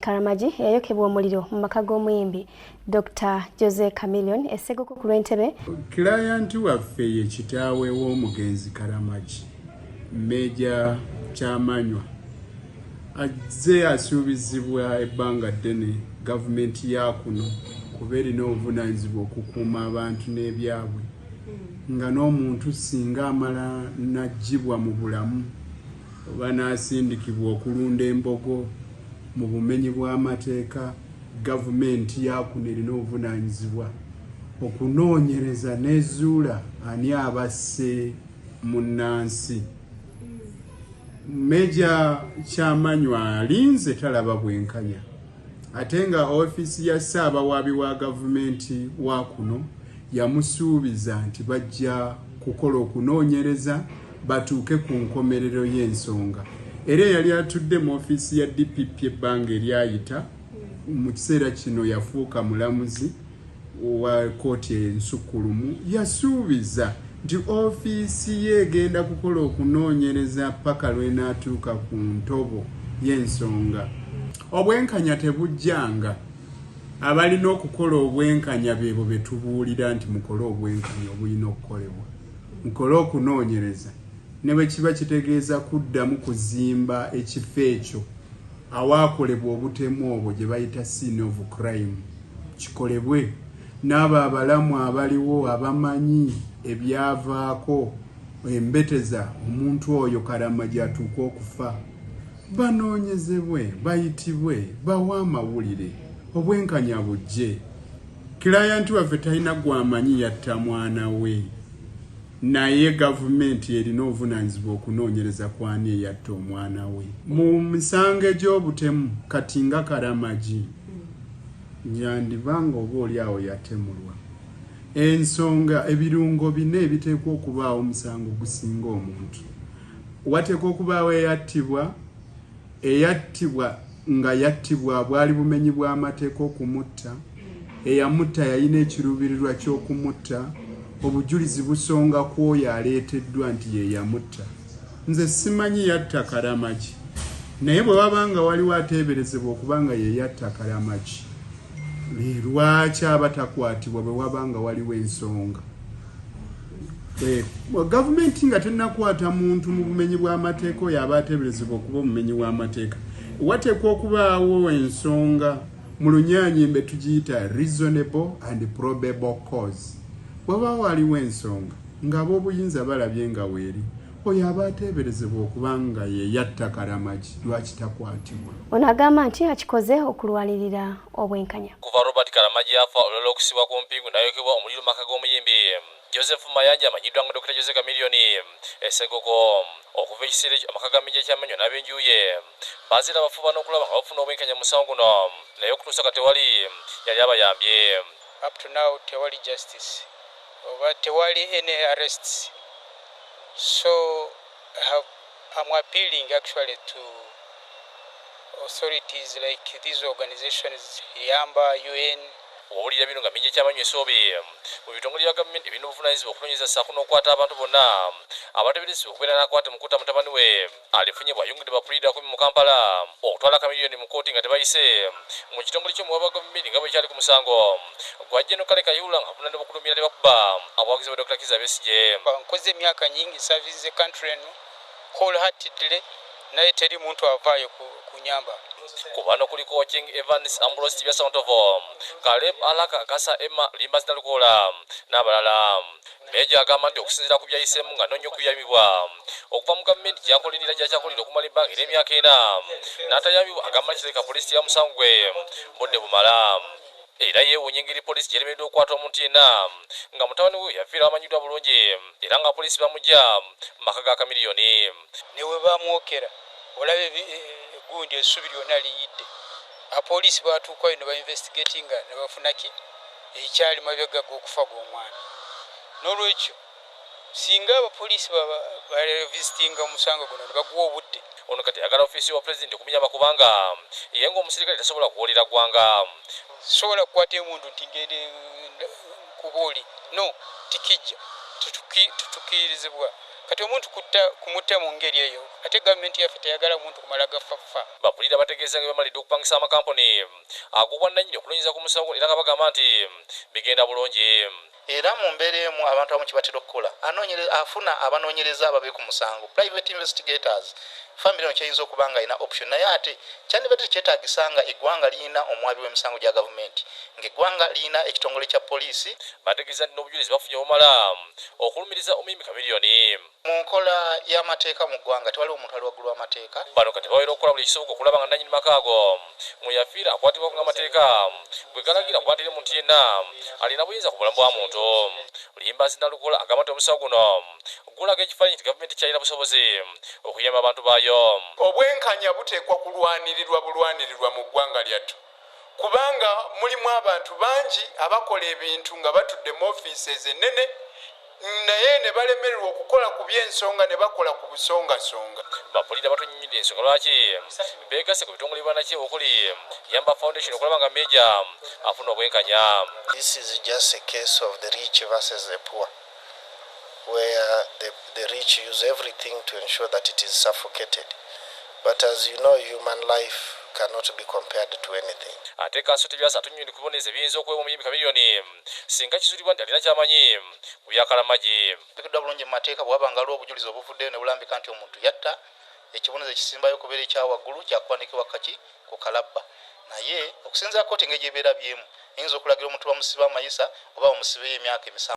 Karamagi eyayokebwa omuliro mu maka g'omuyimbi Dr Jose Chameleon esseguko ku lw'entebe. Kilayanti waffe ye kitaawe w'omugenzi Karamagi, Meeja Kyamanywa azze asuubizibwa ebbanga ddene gavumenti ya kuno kuba erina obuvunaanyizibwa okukuuma abantu n'ebyabwe nga n'omuntu singa amala n'aggyibwa mu bulamu oba n'asindikibwa okulunda embogo. mu bumenyi bw'amateeka gavumenti yaakuno erina obuvunaanyizibwa okunoonyereza n'ezuula ani abasse munnansi meja kyamanywa alinze talaba bwenkanya ate nga ofiisi ya ssaabawaabi wa gavumenti wa kuno yamusuubiza nti bajja kukola okunoonyereza batuuke ku nkomerero y'ensonga era eyali atudde mu ofiisi ya dpp ebbanga eryayita mu kiseera kino yafuuka mulamuzi wa kooti ensukkulumu yasuubiza nti ofiisi ye egenda kukola okunoonyereza paka lwenaatuuka ku ntobo y'ensonga obwenkanya tebujjanga abalina okukola obwenkanya beebo betubuulira nti mukole obwenkanya obulina okukolebwa Mukole okunoonyereza ne bwe kiba kitegeeza kuddamu kuzimba ekifo ekyo awaakolebwa obutemu obwo gye bayita scene of crime kikolebwe n'abo abalamu abaliwo abamanyi ebyavaako embeteza omuntu oyo kalama gy'atuuka okufa banoonyezebwe bayitibwe bawe amawulire obwenkanya bujje. Client waffe talina gwamanyi yatta mwana we naye gavumenti erina obuvunanyizibwa okunoonyereza kwani eyatta omwana we mu misango egy'obutemu kati nga karamagi nyandiba nga oba oli awo yatemulwa ensonga ebirungo bina ebiteekwa okubaawo omusango gusinga omuntu wateekwa okubaawo eyattibwa Eyattibwa nga yattibwa bwali bumenyi bw'amateeka okumutta, eyamutta yalina ekiruubirirwa ky'okumutta, obujulizi busonga ku oyo aleeteddwa nti ye yamutta. Nze simanyi yatta Karamagi, naye bwe waba nga waliwo ateeberezebwa okuba nga ye yatta Karamagi, lwaki aba takwatibwa bwe waba nga waliwo ensonga? Eh, gavumenti nga tenakwata muntu mu bumenyi bw'amateeka oyo aba ateeberezebwa okuba omumenyi w'amateeka wateekwa okubaawo ensonga mu lunyanyimbe tugiyita reasonable and probable cause waba waliwo ensonga ng'abaobuyinza balabye nga weeri Oyo aba ateeberezebwa okuba nga ye yatta Karamagi lwaki takwatibwa? Ono agamba nti akikoze okulwanirira obwenkanya. Kuva Robert Karamagi afa olulala okusibwa ku mpingu n'ayokebwa omuliro mu maka g'omuyimbi Joseph Mayanja amanyiddwa nga Dokita Jose Chameleone e Ssegogo. Okuva ekiseera ekyo amaka ga Meeja Kyamenyo n'ab'enju ye baziira bafuba n'okulaba nga bafuna obwenkanya mu musango guno naye okutuusa kati tewali yali abayambye. Up to now tewali justice oba tewali any arrests. So I have am appealing actually to authorities like these organizations yamba UN. Owulira bino nga minja kyabanywesa obye mu bitongole bya government ebirina obuvunanyizibwa okunonyereza saako nokwata abantu bona abateberezebwa okubeera nakwate mukuta mutabani we. alifunye bw'ayungudde ba puliida kumi mu Kampala okutwala Chameleone mu kkooti nga tebayise mu kitongole ky'omuwabi wa Gavumenti nga bwekyali ku musango gwa Gen. Kale Kayihura ng'avunaanibwa okulumiira ne bakuba abawagizi ba Dokita Kizza Besigye. Nkoze emyaka nyingi nsavinze country eno whole heartedly naye teri muntu avaayo kunyamba. Ku bano kuliko Ochieng Evans, Ambrose Kibyasa Ntovo, Caleb Alaka Akasa, Emma Limbazi Nalukoola n'abalala. Meeja agamba nti okusinzira ku byayiseemu ng'anoonya okuyambibwa okuva mu gavumenti gy'akolerera gy'akyakolerera okumala ebbanga ery'emyaka ena n'atayambibwa agamba nti kirabika poliisi teyamusangu gwe budde bumala era yeewuunya engeri poliisi gy'eremereddwa okukwata omuntu yenna nga mutabani we yafiirawo amanyiddwa bulungi era nga apoliisi bamuggya mu maka ga Chameleone ne we baamwokera olaba e, e, gundi essubi lyonna liyidde apoliisi baatuukayo ne bainvestigatinga ne bafuna ki ekyali mabega g'okufa gw'omwana n'olwekyo singa abapoliisi barevisitinga omusango guno ne baguwa obudde, Ono kati ayagala ofiisi wa Pulezidenti okumunyamba kubanga ye ng'omusirikale tasobola kuwoolera ggwanga. Sisobola kukwata emundu nti ngende nkubuuli no tikijja tukirizibwa kati omuntu kutta kumutta mu ngeri eyo ate gavumenti yaffe teyagala muntu kumala gaffa ffa. Bakulira bategeeza nga bwebamalidde okupangisa amakampuni. agobwa nanyini okunonyereza ku musango guno era nga bagamba nti bigenda bulungi. Era mu mbeera emu abantu abamu kyebatera okukola anonyereza afuna abanonyereza ababe ku musango, private investigators, famire eno kyeyinza okuba nga erina option naye ate kyandibadde tekyetagisa nga egwanga liyina omwabi wemisango gya gavumenti nga egwanga liyina ekitongole kya poliisi. Bategeza nti nobujulizi bafunye obumala okulumiriza omuyimbi Chameleone. Mu nkola y'amateeka mu ggwanga, tewaliwo muntu ali waggulu w'amateeka. Bano kati babeera okukola buli ekisoboka okulaba nga nnannyini maka ago mwe yafiira akwatibwako ng'amateeka bwe galagira kuba teri muntu yenna alina buyinza ku bulamu bwa muntu. Luyimbaazi Nalukoola agamba nti omusawo guno gulaga ekifaananyi nti Gavumenti tekyalina busobozi okuyamba bantu baayo. Obwenkanya buteekwa kulwanirirwa bulwanirirwa mu ggwanga lyattu. kubanga mulimu abantu bangi abakola ebintu nga batudde mu offices ennene naye ne balemererwa okukola ku by'ensonga ne bakola ku busongasonga. Bapuliida batunyumidde ensonga lwaki beegasse ku bitongole bibanakiye okuli Yamba Foundation okulaba nga Meeja afuna obwenkanya. This is just a case of the rich versus the poor. where the, the rich use everything to ensure that it is suffocated. But as you know, human life cannot be compared to anything. ate kanso tebyasa tunyundi kuboneza ebiyinza okuweebwa omuyimbi kamiliyoni singa kizulibwa nti alina kyamanyi ku byakalamagi bikiddwa bulungi mu mateeka bwewaba nga waliwo obujulizi obuvuddeyo ne bulambika nti omuntu yatta ekibonezo ekisimbayo okubeera ekya waggulu kya kuwanikibwa kaki ku kalabba naye okusinzira kooti engeri gyeberabyemu eyinza okulagira omuntu bamusibe amayisa oba bamusibeyo emyaka emisanvu